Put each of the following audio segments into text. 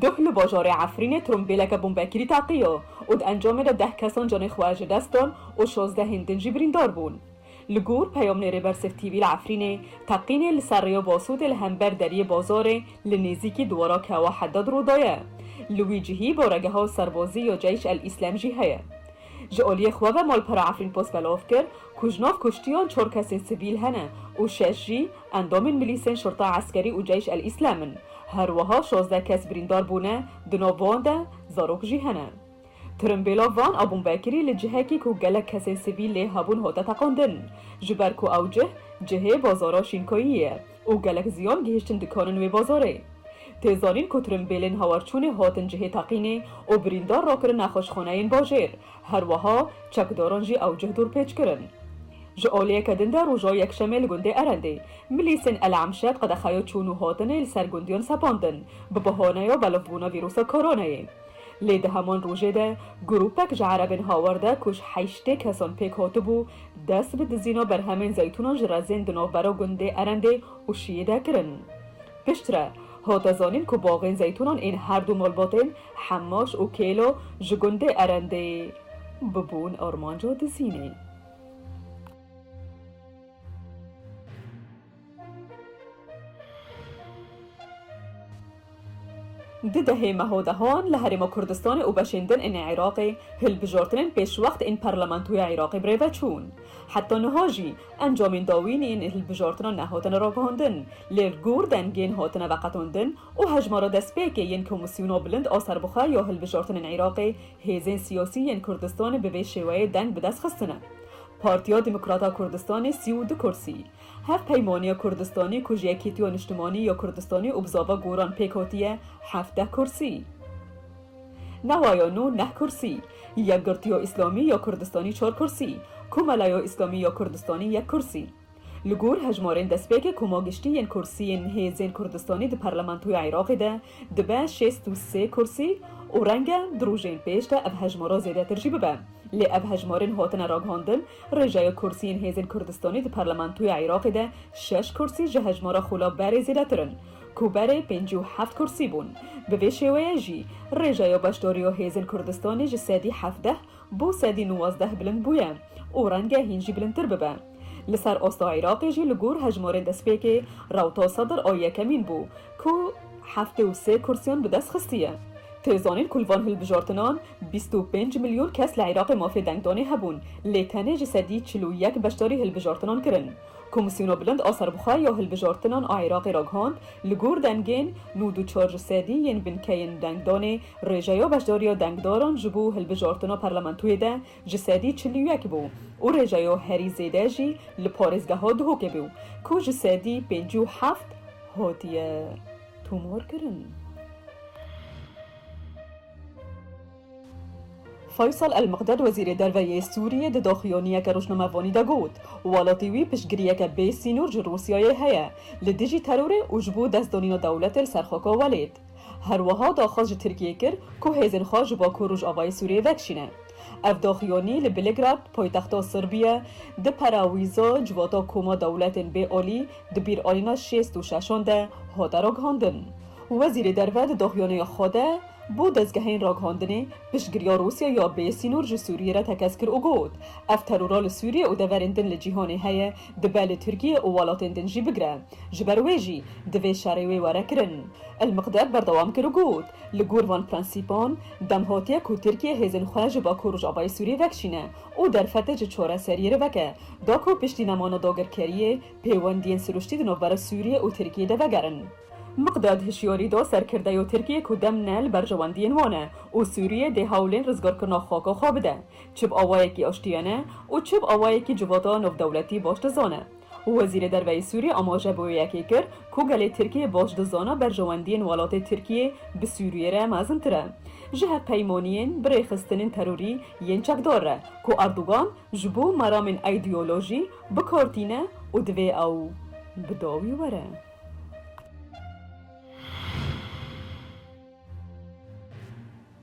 Duh li bajarê Efrînê trombêleke bombekirî teqiyo û di encamê de deh kesan canê xwe ji dest dan û şazdehên din jî birîndar bûn. Li gor peyamnêrê Bersif TV li Efrînê, teqînê li ser rêya Basûtê li hember deriyê bazarê li nêzîkî diwara Kewa Heddad rû daye. Li wî cihî baregeha serbazî ya Ceyş El Îslem jî heye. Ji aliyê xwe ve malpera Efrînpost belov kir ku ji nav kuştiyan çar kesên sivîl hene û şeş jî endamên milîsên Şurta Eskerî û Ceyş El Îslem in. Her wiha şazdeh kes birîndar bûne, di nav wan de zarok jî hene. Tirimbêla van a bombekirî li cihekî ku gelek kesên sivîl lê hebûn hate teqandin, ji ber ku ew cih cihê bazara Şînkayî ye. Û gelek ziyan gihîştin dikanin wê bazarê. Tê zanîn ku tirimbêlên hawarçûnê hatin cihê teqînê û birîndar rakirin nexweşxaneyên bajêr, her wiha çekdaran jî ew cih dorpêç kirin. Ji aliyeke din de roja Yekşemê li gundê Erendê, milîsên El Emşet qedexeya çûn û hatinê li ser gundiyan sepandin, bi bahaneya belivbûna vîrusa Koronayê. Lê di heman rojê de grûpek ji erebên hawer de ku ji heştê kesan pêk hatibû, dest bi dizîna berhemên zeytûnan ji rezên di navbera gundê Erendê û Şiyê de kirin. Piştre, hate zanîn ku baxên zeytûnan ên her du malbatên Hemaş û Kêlo ji gundê Erendê bibûn armanca dizînê. Di dehê meho dehan li Herêma Kurdistanê û beşên din ên Iraqê hilbijortinên pêşwext ên Parlamentoya Iraqê bi rê ve çûn. Heta niha jî encamên dawîn yên hilbijortinan nehatine ragihandin, lê li gor dengên hatine veqetandin û hejmara destpêkê yên Komîsyona Bilind a Serbixwe ya Hilbijortinên Iraqê hêzên siyasî yên Kurdistanê bi vê şêweyê deng bi dest xistine. Partiya Demokrata Kurdistanê sî û du kursî, Hev peymaniya Kurdistanê ku ji Yekîtiya Niştimanî ya Kurdistanê û Bizava Goran pêk hatiye hevdeh kursî. Newaya nû neh kursî. Yekgirtiya Îslamî ya Kurdistanî çar kursî. Komelaya Îslamî ya Kurdistanî yek kursî. Li gor hejmarên destpêkê koma giştî yên kursiyên hêzên Kurdistanî di Parlamentoya Iraqê de dibe şêst û sê kursî û reng e di rojên pêş de ev hejmara zêdetir jî bibe. Lê ev hejmarên hatine ragihandin, rêjeya kursiyên hêzên Kurdistanî di Parlamentoya Iraqê de şeş kursî ji hejmara Xula Berê zêdetir in, ku berê pêncî û heft kursî bûn. Bi vê şêweyê jî rêjeya beşdariya hêzên Kurdistanê ji sedî hevdeh bo sedî nuwazdeh bilind bûye û renge hîn jî bilindtir bibe. Li ser asta Iraqê jî li gor hejmarên destpêkê rewta Sedr a yekemîn bû ku heftê û sê kursiyan bi dest xistiye. Tê zanîn ku li van hilbijartinan bîst û pênc milyon kes li Iraqê mafê dengdanê hebûn lê tenê ji sedî çil û yek beşdarî hilbijartinan kirin. Komîsyona Bilind a Serbixwe ya Hilbijartinan a Iraqê ragihand li gor dengên nod û çar ji sedî yên binkeyên dengdanê rêjeya beşdariya dengdaran ji bo hilbijartina parlamentoyê de ji sedî çil û yek bû û rêjeyo herî zêde jî li parêzgeha Duhokê bû ku ji sedî pêncî û heft hatiye tomarkirin. Faysal El-Miqdad Wezîrê Derve yê Sûriyê di daxuyaniyeke rojnamevanî de got, Welatî wî piştgiriyeke bê sînor ji Rûsyayê heye li dijî terorê û ji bo destdanîna dewletê li ser xaka welêt. Herwiha daxwaz ji Tirkiyê kir ku hêzên xwe ji Bakur Rojavayê Sûriyê vekişîne. Ev daxuyanî li Belgrad, paytexta Sirbiye, di perawîza civata koma dewletên bê alî di bîr alîna şêst û şeşan de hate ragihandin. Wezîrê Derve di daxuyanîya xwe de bo dezgehên ragihandinê piştgiriya Rûsya ya bê sînor ji Sûriyê re tekez kir û got, Ev terora li Sûriyê û deverên din li cîhanê heye dibe li Tirkiyê û welatên din jî bigire. Ji ber wê jî divê şerê wê were kirin. El-Miqdad berdewam kir û got, Li gor van prensîpan, dem hatiye ku Tirkiye hêzên xwe ji Bakur Rojavayê Sûriyê vekişîne û derfetê ji çareseriyê re veke, da ku piştî nemana dagirkeriyê, pêwendiyên sirûştî di navbera Sûriyê û Tirkiyê de vegerin. Miqdad hişyarî da serkirdeya Tirkiyê ku dem ne li berjewendiyên wan e û Sûriyê dê hewlên rizgarkirina xaka xwe bide, çi bi awayekî aştiyane û çi bi awayekî civata navdewletî baş dizane. Wezîrê Derve yê Sûriyê amaje bi wê yekê kir ku gelê Tirkiyê baş dizana berjewendiyên welatê Tirkiyê bi Sûriyê re mezintir e ji hevpeymaniyên bi rêxistinên terorî yên çekdar re ku Erdogan ji bo meramên îdeolojî bi kar tîne û divê ew bi dawî were.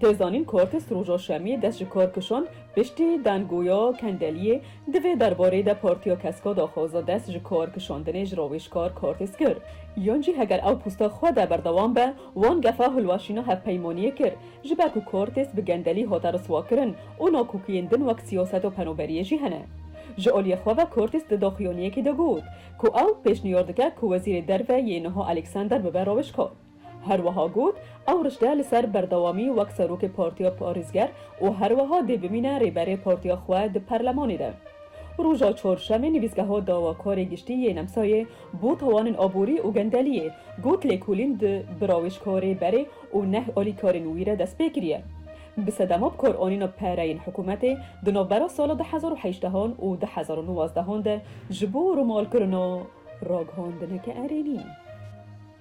Tê zanîn ku kes roja şemiyê dest ji kar kişand, piştî dangoya Kendeliyê di vê derbarê de Partiya Kesko daxwaza dest ji kar kişandinê ji rawêjkar Kartês kir. Yan jî heger ew posta xwe de berdewam be, wan gefa hilweşîna hevpeymaniyê kir. Ji ber ku Kartês bi gendelî hate riswakirin û nakokiyên din wek siyaseta penaberiyê jî hene. Ji aliyê xwe ve Kartês di daxuyaniyekê de got ku ew pêşniyar dike ku Wezîrê Derve yê niha Alexander bibe rawêjkar. Her wiha got, Ew rişte li ser berdewamî wek Serokê Partiya Parêzger û her wiha dê bimîne Rêberê Partiya xwe di Perlemanê de. Roja Çarşemê Nivîsgeha Dawakarê Giştî yê Nemsayê bo Tawanên Aborî û Gendeliyê got lêkolîn di birawêjka Rêberê û neh alîkarên wî re destpê kiriye. Bi sedema bi kar anîna pereyên hikûmetê di navbera sala du hezar û heştehan û du hezar û nozdehan de ji bo rumalkirina ragihandineke erênî.